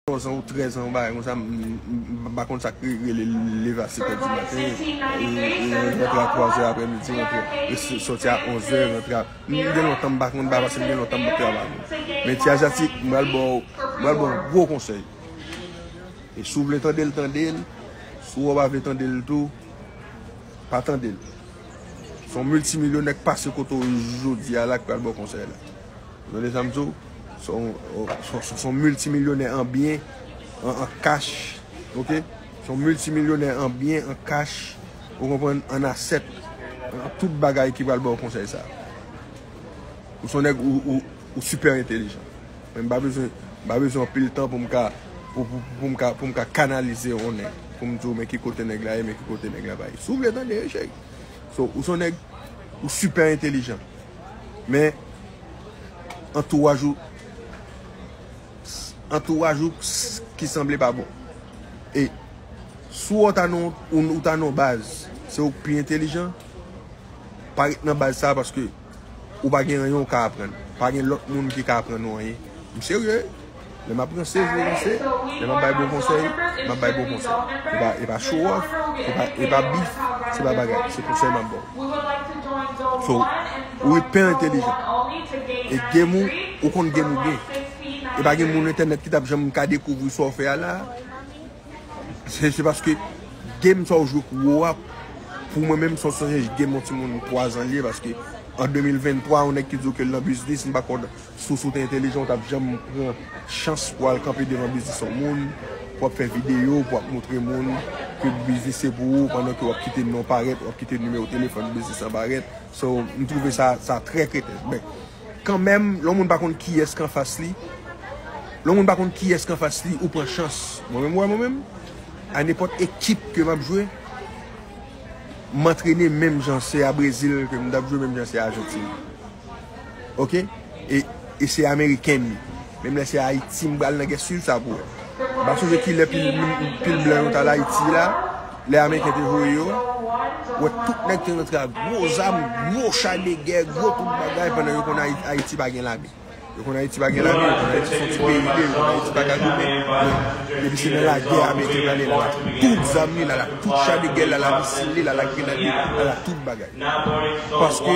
11 ans ou 13 ans ou bagay konsa m pa konn sak rele leve a 7 heures du matin rantre a 3 heures aprè midi rantre soti a 11 heures rantre a m gen lontan m pa konn bagay paske m gen lontan m pa travay men ti ajatik m pral baw m pral baw gwo konsèy e si w vle tande l tande l si w pa vle tande l tou pa tande l son miltimilyonè k pase kote w jodi a la k pral baw konsèy la. Ou tande sa m di w? Se yon miltimilyonè an byen, an kach, ok? Se yon miltimilyonè an byen, an kach, ou konprann, an asèt, an tout bagay ki pral ba w konsèy sa. Ou se yon nèg, ou sipè entelijan. Men m pa bezwen, m pa bezwen anpil tan pou m ka, pou m ka kanalize yon nèg. Pou m di w men ki kote nèg la ye, men ki kote nèg la pa ye. Si w vle tande, cheri. So, ou se yon nèg, ou sipè entelijan. Men antouraj ou antouraj ou ki sanble pa bon. E si ou ta nan ou ta nan baz se ou ki pi entelijan pa ret nan baz sa paske ou pa gen anyen ou ka aprann. Pa gen lòt moun ki ka aprann ou anyen. M serye! Lè m ap ranse, je ranse. Lè m ap bay bon konsèy, m ap bay bon konsèy. E pa show off, e pa beef, se pa bagay. Se konsèy m ap ba w. So, ou ipè entelijan. E game ou, ou konn game ou byen. E pa gen moun entènèt ki t ap janm ka dekouvri sa w fè a la. Se paske game sa w jwe kou wou a, pou mwen menm, se yon sòt de game yon timoun 3 zan li ye. Paske an 2023, yon nèg ki di w ke l nan biznis, m pa kwè w nan. Soso w te entelijan ou tap janm pran chans pou al kanpe devan biznis yon moun pou ap fè video pou ap moutre moun ke biznis se pou ou pandan ke wap kite non parèt wap kite nimewo telefòn biznis lan parèt so m twouve sa sa trè kreten men kanmenm lè yon moun pa konn kiyès k anfas li lè yon moun pa konn kiyès k anfas li ou pran chans mwen menm wè mwen menm a nenpòt ekip ke map jwe m antrene menm jan se a Brezil ke m tap jwe menm jan se a Ajantin. ok e se ameriken m ye menm lè se ayiti m pral nan gè swiv sa pou wè m pa sonje kilè pil blan yo t al ayiti la lè ameriken te voye yo wè tout nèg te rantre ak gwo zam gwo cha de gè gwo tout bagay pandan yo konn ayiti pa gen lame yo konn ayiti pa gen lame yo konn ayiti son ti peyi li ye yo konn ayiti pa ka goumen depi se nan lagè ameriken pral lè l al ak tout zam li l al ak tout cha de gè l al ak misil li l al ak grenad li l al ak tout bagay. Paske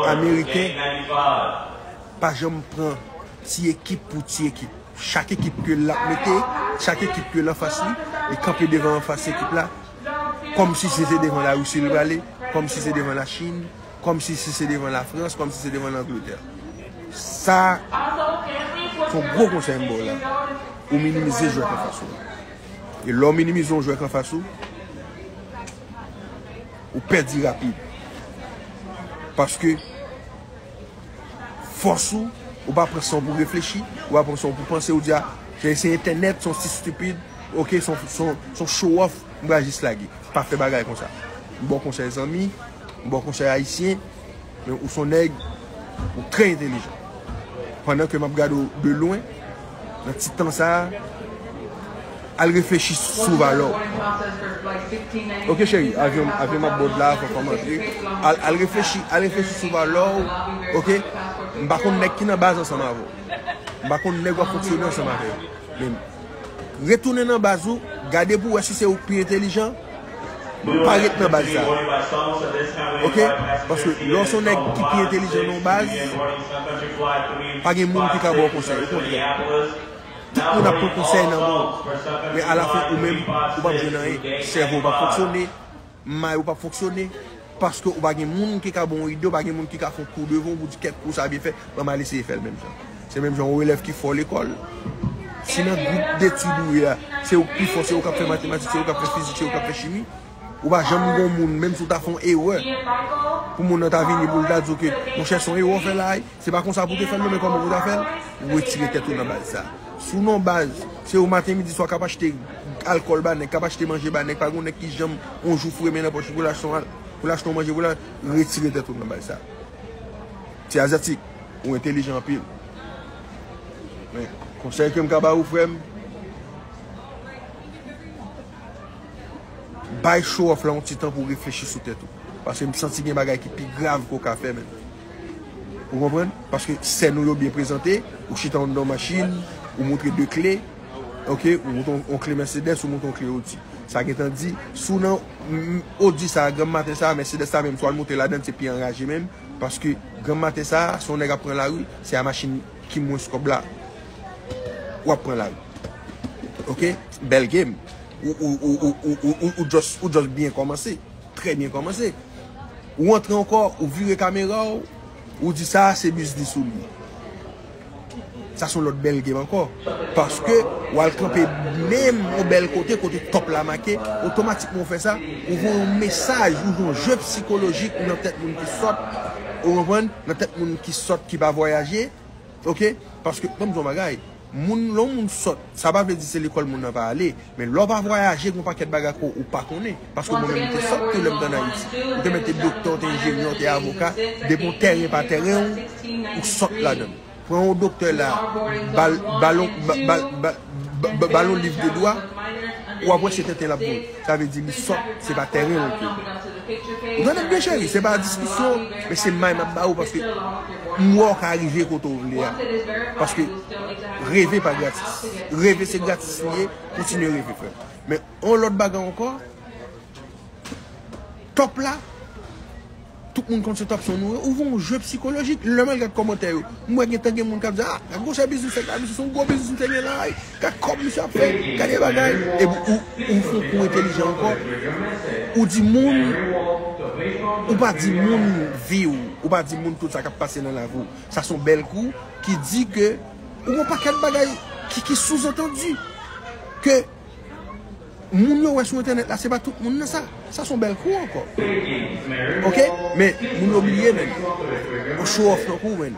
ameriken pa janm pran ti ekip pou ti ekip. Chak ekip ke lap mete, chak ekip ke lan fas li, li kanpe devan an fas ekip la, kom si se se devan la Russie li prale, kom si se devan la Chine, kom si se se devan la France, kom si se devan l'Angleterre. Sa son gwo konsey m baw la, ou minimize jwè k an fas ou. E lè w minimize yon jwè k an fas ou, ou pèdi rapid. Paske, fòs ou, ou pa pran san w pou reflechi, ou pa pran san w pou panse, ou di a, se se entènèt, se yon ti stupid, ok, se yon show off, m pral jis lage. Pa fè bagay konsa. M ba w konsèy zanmi, m ba w konsèy ayisyen. Men ou son nèg ou trè entelijan. Pandan ke map gade ou de lwen nan ti tan sa a al reflechi sou valè w. Ok cheri avyon avyon m ap bòd la fòk fòm antre al reflechi al reflechi sou valè w ok m pa konn nèg ki nan baz ansanm avè w m pa konn nèg w ap fonksyone ansanm avè yo men retounen nan baz ou gade pou wè si se ou k pi entelijan. Pa ret nan baz sa. Ok paske lè w se yon nèg ki pi entelijan nan yon baz pa gen moun ki ka ba w konsèy o kontrè tout moun ap pran konsèy nan men w men alafen ou menm ou pap jwenn anyen sèvo w pap fonksyone may ou pap fonksyone Paske ou pa gen moun ki ka ba w yon ide, ou pa gen moun ki ka fè yon kou devan w pou w di kèk kou sa byen fèt, ban m al eseye fè l menm jan. Se menm jan yon elèv ki fò lekòl, si nan gwoup detid ou ye a, se ou k pi fò, se ou k ap fè matematik, se ou k ap fè fizik, se ou k ap fè chimi, ou pa janm gen yon moun, menm si w ta fè yon erè, pou moun nan ta vini pou l ta di w ke, monchè, se yon erè w fè la a wi. Se pa konsa pou te fèl non men kòman pou ta fèl? Ou retire tèt ou nan baz sa. Sou non baz, se ou maten midi swa kap achte alkòl ba nèg, kap achte manje ba nèg, pa gon nèg ki janm on jou foure men nan pòch li poul achte on al, poul achte on manje pou la, retire tèt ou nan baz sa. Ti aziatik, ou entelijan anpil. Men, konsèy kem ka ba ou frèm, bay show off la on ti tan pou reflechi sou tèt ou. Paske m santi gen bagay ki pi grav ke ou ka fè menm. Ou konprann? Paske sèn ou yo byen prezante, ou chita anndan yon machin, ou montre 2 kle, ok, ou montre yon kle Mercedes, ou montre yon kle Audi. Sa gen tan di, si w nan Audi sa a, granm maten sa a, Mercedes la menm, si w al monte ladann, se pi anraje menm, paske granm maten sa a, si yon nèg ap pran lari, se a machin ki mwens kòb la, w ap pran lari. Ok? Bèl game. Ou just byen kòmanse. Trè byen kòmanse. Ou antre ankò, ou vire kamera w, ou di sa a se biznis ou li. Sa son lòt bèl game ankò. Paske w al kanpe menm yon bèl kote, kote top la make, otomatikman ou fè sa, ou voye yon mesaj, ou jwe yon jeu psikolojik nan tèt moun ki sòt, ou konprann, nan tèt moun ki sòt ki pa vwayaje, ok. Paske, ban m di w yon bagay, Moun, lè yon moun sòt, sa pa vle di se lekòl moun nan va ale, men lè w pa vwayaje gen yon pakèt bagay ke w pa konnen, paske mwen menm m te sòt tou lè m te ann Ayiti, m te mèt te doktè, w te enjenyè, w te avoka, depi yon tèren pa tèren w, ou sòt ladan l. Pran yon doktè la, ba l, ba l yon, ba l, ba l, ba l yon liv de dwa, w ap wè se tenten l ap voye. Sa vle di li sòt, se pa tèren l ke l konnen. Ou tande m byen cheri? Se pa diskisyon, men se may m ap ba ou paske. M wè w ka rive kote w vle a. Paske reve pa gratis. Reve se gratis li ye. Kontinye reve frè m. Men yon lòt bagay ankò. Top la. Tout moun konn se top son nou. Ou vwe yon jwe psikolojik. Lè mwen gad kòmantè yo. M wè gen tan gen moun k ap di a. Gade yon chè biznis sa. Gade yon gwo biznis misye gen la. Gad kòb misye ap fè, gade bagay. Epi ou ou fon kou entelijan ankò, ou di moun, ou pa di moun vi ou, ou pa di moun tout sa kap pase nan lavi ou. Sa son bèl kou ki di ke ou gon pakèt bagay ki ki souzantandi ke Moun yo wè sou entènèt la se pa tout moun nan sa sa son bèl kou ankò ok men moun yo bliye nèg yo show off tankouw menn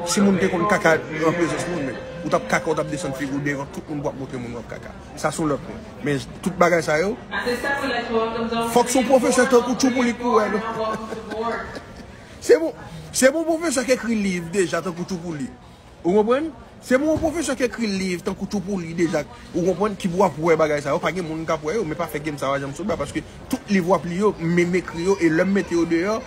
si moun te konn kaka nan prezans moun menn ou tap kaka ou tap desann figouw devan tout moun pou wap montre moun wap kaka sa son lòt pwen men tout bagay sa yo fòk son pwofesè tankouw tjou pou li pou wèl se bon se bon pwofesè k ekri liv deja tankouw tjou pou li Ou konprann? Se pou yon pwofesè k ekri liv tankou Tou pou li deja k, ou konprann, ki pou ap wè bagay sa yo. Pa gen moun k ap wè yo, men pa fè game sa yo a Janmsotba paske tout liv w ap li yo, m m ekri yo e lè m mete yo deyò,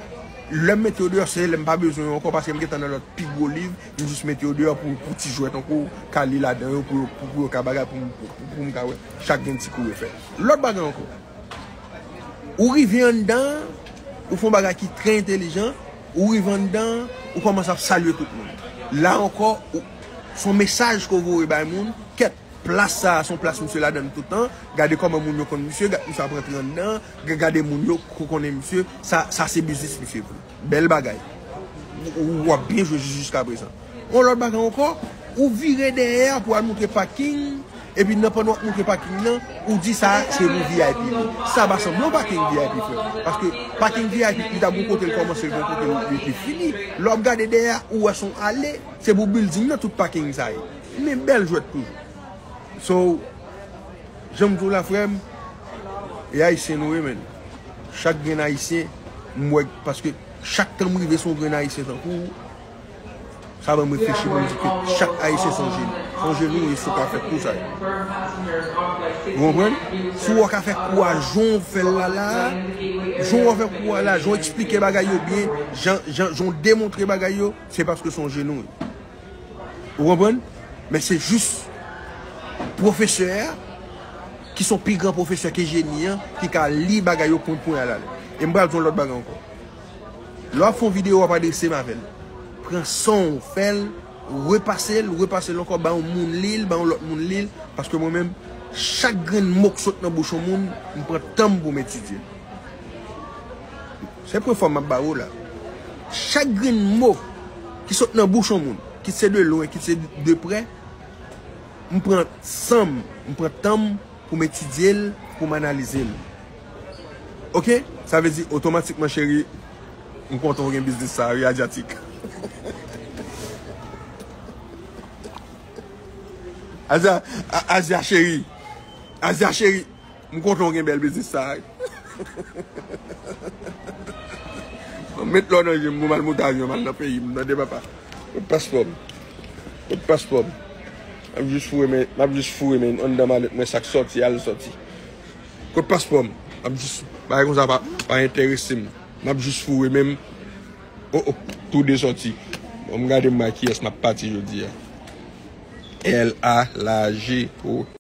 lè m mete yo deyò se lè m pa bezwen yo ankò paske m gentan nan lòt pi gwo liv, m jis mete yo deyò pou pou ti jwè tankou w ka li ladan yo pou yo pou yo ka bagay pou m pou m ka wè chak gen ti kou yo fè. Lòt bagay ankò, ou rive anndan an, ou fè yon bagay ki trè entelijan, Ou rive anndan an, ou kòmanse ap salye tout moun. La ankò, ou, s on mesaj ke w voye bay moun, kèt, plas sa a s on plas misye ladan l toutan, gade kòman moun yo konn misye, gad misye ap rantre anndan an, ga gade moun yo k konnen misye, sa sa se biznis misye vre. Bèl bagay. Ou, ou ap byen jwe jis jiskaprezan. Yon lòt bagay ankò, ou vire dèyè a pou al montre paking, epi nan pandan w ap montre paking nan, ou di sa a se pou vip li. Sa pa sanble yon paking vip frè m. Paske paking vip li ta gen yon kote l kòmanse, gen yon kote l li fini. Lè w ap gade dèyè a, ou wè se yon ale, se pou bilding nan tout paking sa ye. Men bèl jwèt toujou. So, jan m di w la frè m, e ayisyen nou ye menn. Chak grenn ayisyen m wè, paske chak tan m rive se yon grenn ayisyen tankou w. Sa banm reflechi pou m di ke chak Ayisyen se yon jeni. Se yon jeni ou ye si w ka fè kou sa yo. Ou konprann? Si w ka fè kou a jan w fè l la la a, jan w fè kou a la, jan w eksplike bagay yo byen, jan w demontre bagay yo, se paske se yon jeni ou ye. Ou konprann? Men se jis pwofesè a, ki se yon pi gran pwofesè ke jeni an, ki ka li bagay yo poun poun alalè. E m pral di w yon lòt bagay ankò. Lè wap fè yon video wap adrese m avèl. Pran sanw fèl, repasel, repasel ankò ba yon moun lil, ba yon lòt moun lil paske mwen menm chak grenn mo k sot nan bouch yon moun m pran tanm poum etidyel. Se premye fwa map ba ou la. Chak grenn mo ki sot nan bouch yon moun kit se de lwen, kit se de prè m pran sanm, m pran tanm poum etidyel, poum analizel. Ok sa vle di otomatikman cheri m kontan ou gen biznis sa wi adyatik. Adya cheri Adya cheri m kontan ou gen bèl biznis sa wi. Mwen met lò nan je m pou m al monte avyon m al nan peyi m tande papa. Kot paspò m kot paspò m. M ap jis foure men anndan malèt mwen sak sòti al sòti. Kot paspò m map jus bagay konsa pa pa enterese m map jus foure menm oh oh tou de sòti banm gade m wè kiyès map pati jodia LA lage oh.